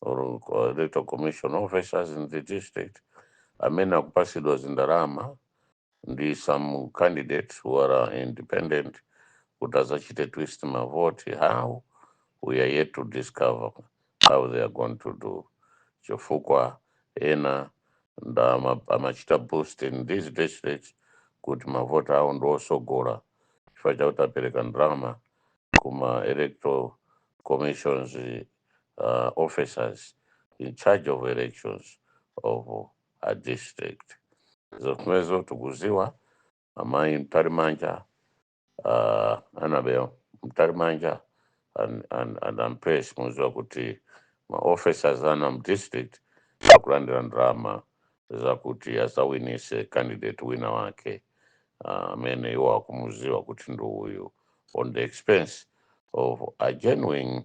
or uh, electoral commission officers in the district amene akupasidwa zindalama ndi some candidates who are independent kuti azachite twist mavoti how we are yet to discover how they are going to do chifukwa ena nda ama- amachita boost in these districts kuti mavoti awo ndi osogola chifukwa chakuti apereka ndalama kuma electoral commissions uh, officers in charge of elections of a district zomwezo tikuziwa amayi mtalimanja uh, Annabel mtalimanja and, and, and Mpesi muziwa kuti maofficers ena mdistrict akulandira ndalama zakuti azawinise candidate wina wake amene uh, iwo akumuziwa kuti ndi uyu on the expense of a genuine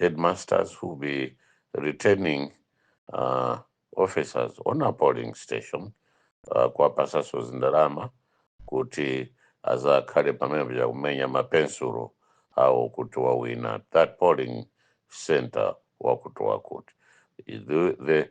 headmasters who will be returning uh, officers on a polling station uh, kuwapasaso zindalama kuti azakhale pamenepo akumenya mapensulo awo kuti wawina that polling center wakuti wakuti the, the,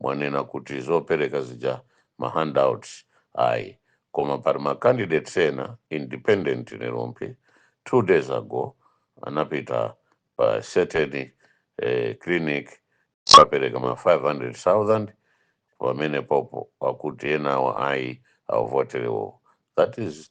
mwanena kuti zopereka zija ma handouts ayi koma pali ma candidates ena independent nerompi two days ago anapita pa certain eh, clinic apereka ma 500000 pamenepopo akuti enawo ayi avotere iwo that is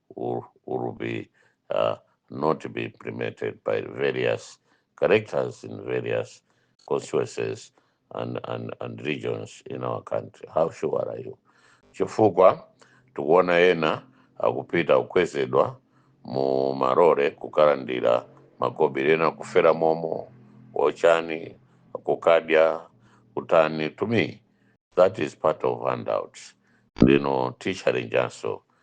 will, will be uh, not be implemented by various characters in various constituencies and, and, and regions in our country. How sure are you? Chifukwa tikuona ena akupita kukwezedwa mu malole kukalandira makobiri ena kufera momo ochani kukadya kutani to me that is part of handouts ndino tichalenjanso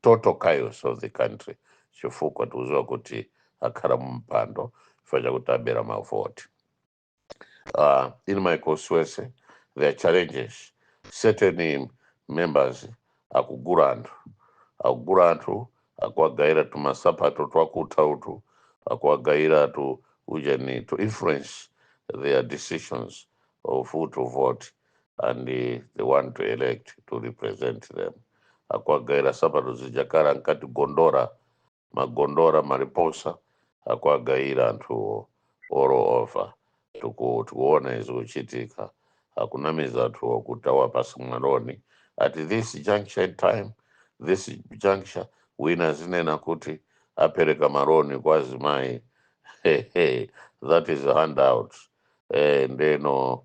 total chaos of the country chifukwa tikuziwa kuti akhala mu mpando chifukwa chakuti abera mavoti uh, in my constituency there are challenges certain members akugula anthu akugula anthu akuwagayira tumasapato twakutha utu akuwagayira tu ujeni to influence their decisions of who to vote and the one to elect to represent them akuwagawira nsapato zija akale ankati gondora magondora mariposa akuwagawira anthuwo all over tiku- tikuona zikuchitika akunamiza anthuwo kuti awapasa maloni at this juncture in time this juncture wina azinena kuti apereka maloni kwa azimayi Hey, hey, that is a handout eh, nde no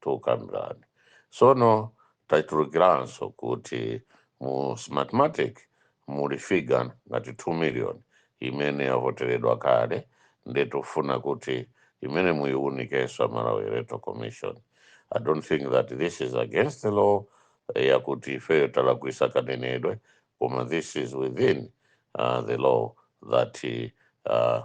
tikukambirana so no tatulukiranso kuti mu smartmatic muli figa ngati 2 million imene yavoteredwa kale nde tufuna kuti imeneyo muyiwunikenso a malawi electoral commission i don't think that this is against the law eh, yakuti ifeyo talakwisa kanenedwe koma this is within uh, the law that uh,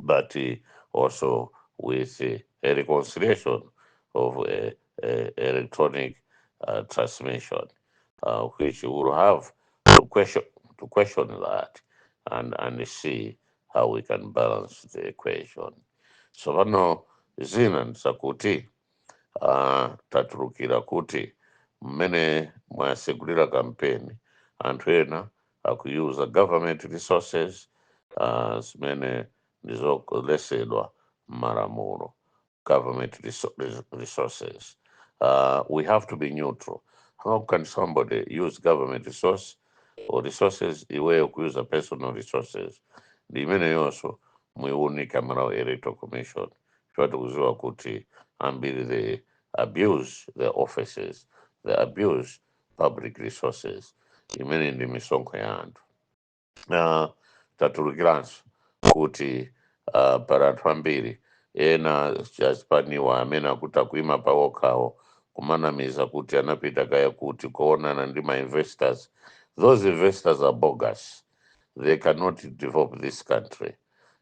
but uh, also with uh, a reconciliation of uh, uh, electronic uh, transmission, uh, which will have to question to question that and and see how we can balance the equation. So pano zina ndizakuti uh, tatulukira kuti mmene mwasegulira kampeni anthu ena akuuser government resources uh, zimene ndizoletsedwa m'malamulo government resou- res- resources uh, we have to be neutral how can somebody use government resource or resources iweyo kuuser personal resources ndi imeneyonso muiunike a malawi electoral commission chifukwa tikuziwa kuti ambiri they abuse their offices they abuse public resources imene ndi misonkho ya anthu uh, tatulukiranso kuti uh, pali anthu ambiri ena aspirant-wa amene akuti akuima pa okhawo kumanamiza kuti anapita kaya kuti kukaonana ndi ma investors those investors are bogus they cannot develop this country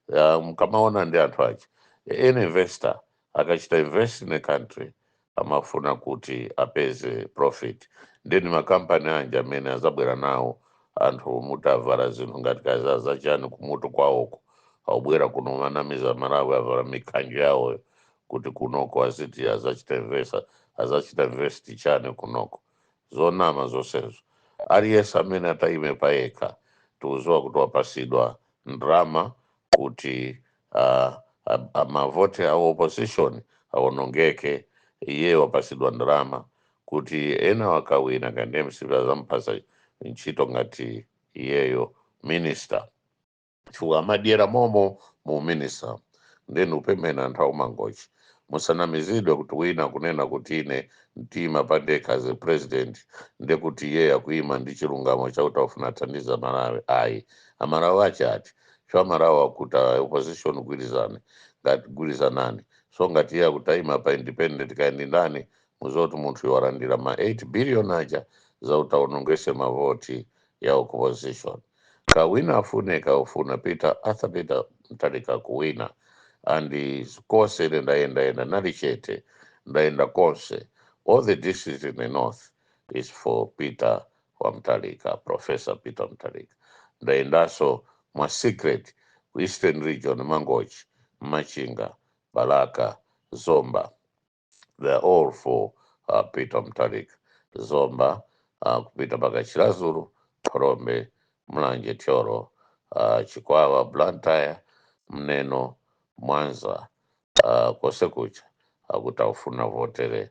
uh, mkamaona ndi anthu ache any investor akachita invest in a country amafuna kuti apeze profit nde ndi makampani anji amene azabwera nawo anthu muti avala zinthu ngati kaya zachani kumutu kwawoko akubwera kuno kumanamiza amalawi avala mikhanjo yawoyo kuti kunoko aziti azachita invest azachita invest chani kunoko zonama zonsezo aliyense amene atayime payekha tikuziwa kuti wapasidwa ndrama kuti ah, ah, ah, mavoti a opposition awonongeke iyeyo wapasidwa ndalama kuti enawa akawina ngati mcp azampasa ntchito ngati iyeyo minister chifukwa amadyera momo mu uminister nde nikupempha anthu akumangochi musanamizidwe kuti wina kunena kuti ine ndiima pandekha as a president nde kuti iyeyo akuima ndi chilungamo chakuti afuna athandize amalawi ayi amalawi ache ati cha Amalawi akuti a opposition gwirizane ngati gwirizanani so ngati iye akuti aima pa independent kaya ndi ndani muzoti munthu owalandira ma 8 billion aja zakuti aonongese mavoti ya opposition kaya wina afune kaya safuna peter arthur peter mutharika kuwina and konse ine ndayendayenda ndili chete ndayenda konse all the districts in the north is for peter Mutharika, Professor Peter Mutharika. Ndayendanso mwa secret ku Eastern Region, Mangochi, Machinga, Balaka, Zomba. They are all for uh, Peter Mutharika. Zomba, uh, kupita mpaka Chiradzulu, Phalombe, Mulanje, Thyolo, uh, Chikwawa, Blantyre, Neno, Mwanza, uh, konse kuja akuti akufuna votere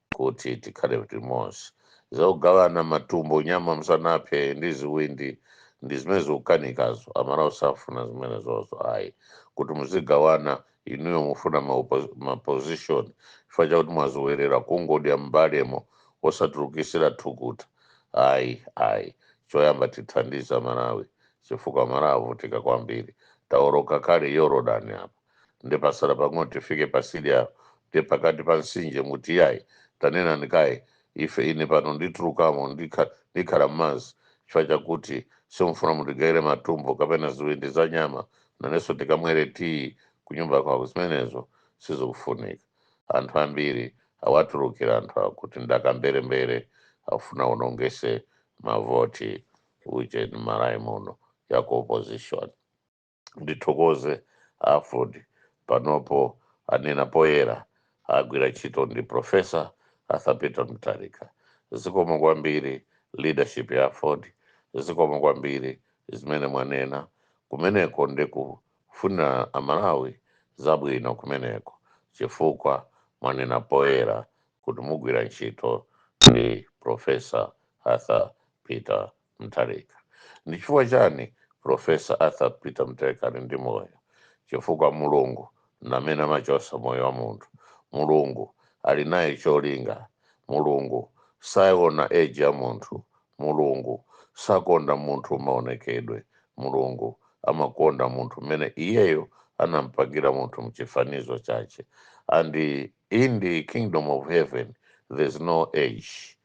kuti tikhale limodzi zokugawana matumbo nyama msanaphe ndi ziwindi ndi zimene zikukanikazo amalawi safuna zimene zozo ayi kuti muzigawana inuyo mufuna ma position chifukwa chakuti mwazowerera kungodya mbalemo osatulukisira thukuta ayi ayi choyamba tithandiza amalawi chifukwa amalawi avutika kwambiri taoloka kale yorodani apa nde pasala pang'ono tifike patsidya nde pakati pa mtsinje muti yayi tanena ndi kale ife ine pano nditulukamo ndikha- ndikhala mmadzi chifukwa chakuti simufuna mutigayire matumbo kapena ziwindi za nyama nanenso tikamwere tiyi kunyumba kwako zimenezo sizikufunika anthu ambiri awatulukira anthu akuti ndi akamberembere akufuna aonongese mavoti uje mmalawi muno ya ku opposition ndithokoze aford panopo anena poyera agwira ntchito ndi profesa arthur peter mutharika zikomo kwambiri leadership ya aford zikomo kwambiri zimene mwanena kumeneko ndi kufunira amalawi zabwino kumeneko chifukwa mwanena poyera kuti mugwira ntchito ndi profesa arthur peter Mutharika. Ndi chifukwa chani Prof. Arthur Peter Mutharika ali ndi moyo? Chifukwa Mulungu ndi amene amachosa moyo wa munthu. Mulungu ali naye cholinga. Mulungu saona age ya munthu. Mulungu sakonda munthu maonekedwe. Mulungu amakonda munthu mmene iyeyo anampangira munthu mchifanizo chache. And in the kingdom of heaven there's no age.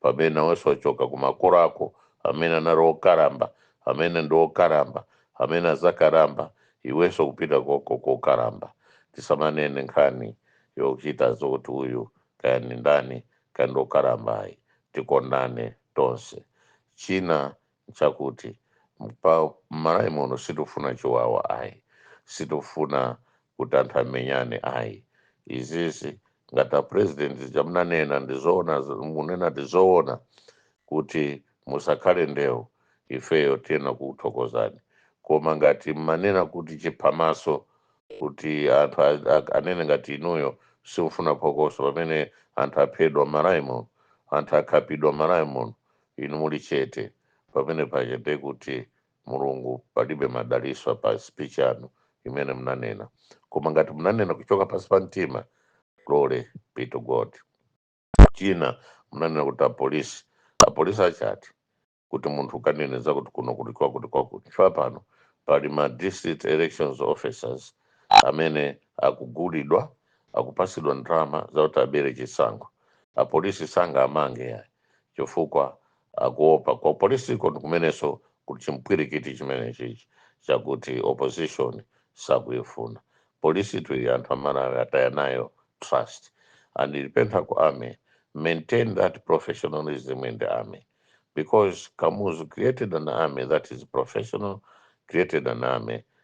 pamene nawenso wachoka kumakolo ako amene anali okalamba amene ndi okalamba amene azakalamba iwenso ukupita koko kokalamba tisamanene nkhani yochita zokuti uyu kaya ndi ndani kaya ndi okalamba ayi tikondane tonse china nchakuti mmalawi muno sitifuna chiwawa ayi sitifuna kuti anthu amenyane ayi izizi ngati a president zija mnanena ndi zoona z- munena ndi zoona kuti musakhale ndewu ifeyo tiyenera kukuthokozani koma ngati mmanena kuti chiphamaso kuti anthu a- a- anene ngati inuyo simufuna phokoso pamene anthu aphedwa mmalawi muno anthu akhapidwa mmalawi muno inu muli chete pamene paja ndiye kuti mulungu palibe madaliso pa speech yanu imene mnanena koma ngati mnanena kuchoka pasi pa mtima glory be to god china mnanena kuti apolisi apolisi achati kuti munthu ukaneneza kuti kuno kuli kwakuti kwakuti chifukwa pano pali ma district elections officers amene akugulidwa akupasidwa ndalama zakuti abere chisankho apolisi sangaamange yayi chifukwa akuopa kwa polisiko ndi kumeneso kuti chimpwirikiti chimenechichi chakuti opposition sakuifuna polisi tuyi anthu amalawi ataya nayo trust and ndipempha ku army maintain that professionalism in the army because kamuzu created an army that is professional created an army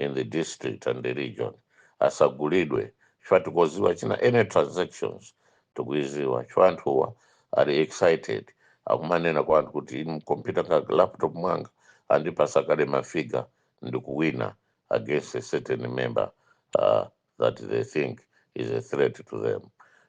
in the district and the region asagulidwe chifukwa tikuziwa china any transactions tikuiziwa chifukwa anthuwa ali excited akumanena kwa anthu kuti inu mkompyuta ka laptop mwanga andipasa kale mafiga ndikuwina against a certain member uh, that they think is a threat to them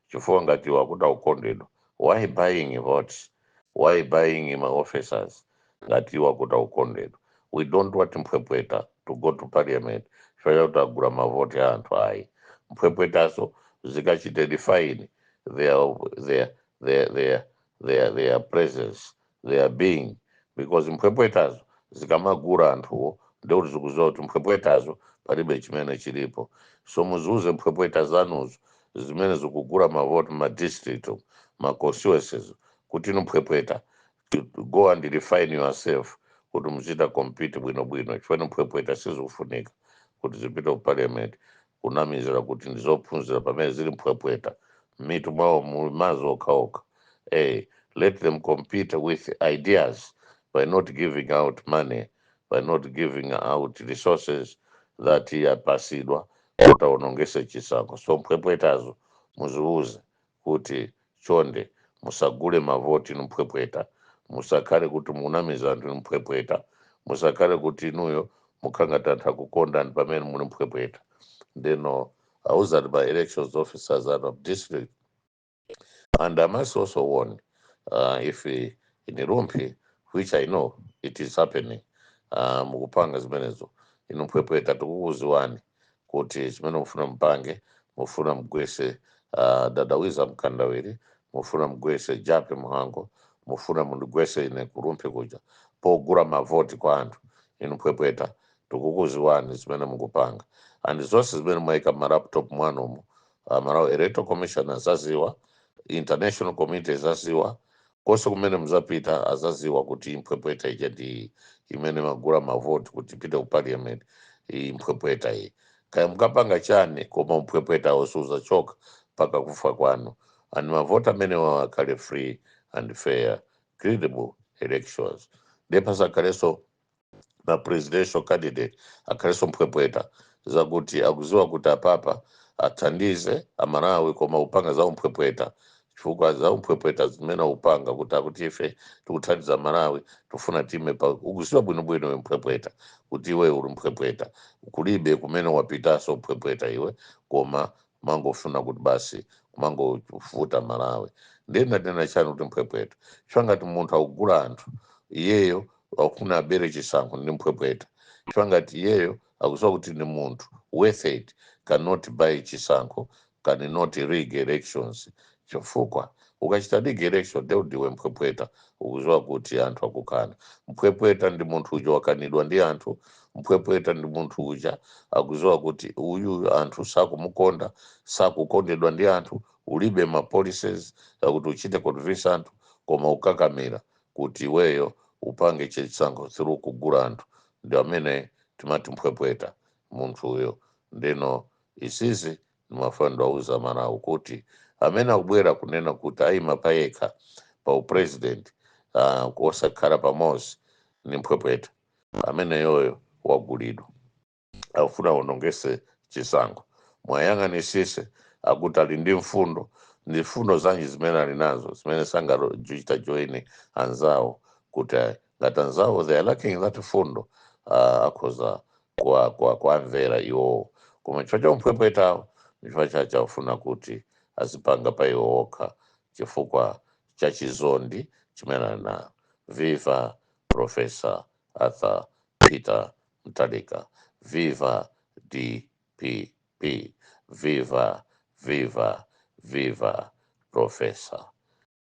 chifukwa ngati akuti akukondedwa why buying votes why buying ma officers ngati akuti akukondedwa we don't want mphwepweta to go to parliament chifukwa chakuti agula mavoti a anthu ayi mphwepwetazo zikachite define their, their, their, their, their, their presence their being because mphwepwetazo zikamagula anthuwo ndekuti zikuziwa kuti mphwepwetazo palibe chimene chilipo so muziuze mphwepweta zanuzo zimene zikugula mavoti ma district, ma constituencies kuti inu mphwepweta go and refine yourself kuti muchite compete bwinobwino chifukwa mphwepweta sizikufunika kuti zipite ku parliament kunamizira kuti ndi zophunzira pamene zili mphwepweta m'mitu mwawo muli mazi okhaokha a let them compete with ideas by not giving out money by not giving out resources that yapasidwa kuti awonongese chisankho so mphwepwetazo muziuze kuti chonde musagule mavoti inu mphwepweta musakhale kuti mukunamiza anthu inu mphwepweta musakhale kuti inuyo mukhala ngati anthu akukondani pamene muli mphwepweta ndeno auzani ma elections officers anu a district and I must also warn uh, if in Rumphi, which I know it is happening, uh, mukupanga zimenezo inu mphwepweta tikukuziwani kuti zimene mufuna mpange mufuna mgwese uh, dadawiza mkandawiri mufuna mgwese Jappie Mhango mufuna mundigwese ine ku Rumphi kuja pogula mavoti kwa anthu inu mphwepweta tikukuziwani zimene mukupanga and zonse zimene mwaika ma laptop mwanumu uh, Malawi electoral commission azaziwa international community azaziwa Konse kumene muzapita azaziwa kuti mphwepweta ija ndi iyi imene imagula ma vote kuti ipite ku parliament iyi mphwepweta iyi. Kaya mukapanga chani koma umphwepwetawo siuzachoka mpaka kufa kwanu and ma vote amenewawo akhale free and fair, credible elections ndiye pasakhalenso. ma presidential candidate akhalenso mphwepweta zakuti akuziwa kuti apapa athandize amalawi koma upanga za umphwepweta chifukwa za umphwepweta zimene upanga kuti akuti ife tikuthandiza amalawi tifuna time pa ukuziwa bwinobwino iwe mphwepweta kuti iwe uli mphwepweta kulibe kumene wapitaso mphwepweta iwe koma kumangofuna kuti basi kumangovuta malawi ndiye ndanena chani kuti mphwepweta chifukwa ngati munthu akugula anthu iyeyo akufuna abere chisankho ndi mphwepweta chifukwa ngati iyeyo akuziwa kuti ndi munthu worth it cannot buy chisankho cannot rig elections chifukwa ukachita rig election nde ndiwe mphwepweta ukuziwa kuti anthu akukana mphwepweta ndi munthu uja wakanidwa ndi anthu mphwepweta ndi munthu uja akuziwa kuti uyuyu anthu sakumukonda sakukondedwa ndi anthu ulibe ma policies akuti uchite convince anthu koma ukakamira kuti iweyo upange chisankho through kugula anthu ndi amene timati mphwepweta munthu uyo ndeno isizi ndimafuna ndiwauze amalawi kuti amene akubwera kunena kuti ayima payekha pa upresident uh, osakhala pamodzi ndi mphwepweta ameneyoyo wagulidwa akufuna awonongese chisankho muwayang'anisise akuti ali ndi mfundo ndi mfundo zanji zimene ali nazo zimene sangachite join anzawo kuti ngati anzawo they are lacking that mfundo uh, akhoza kuwa kuwamvera iwowo koma chifukwa cha umphwemphwetawo ndichifukwa chache akufuna kuti azipanga pa iwo okha chifukwa cha chizondi chimene ali nayo viva professor arthur peter mutharika viva dpp viva viva viva professor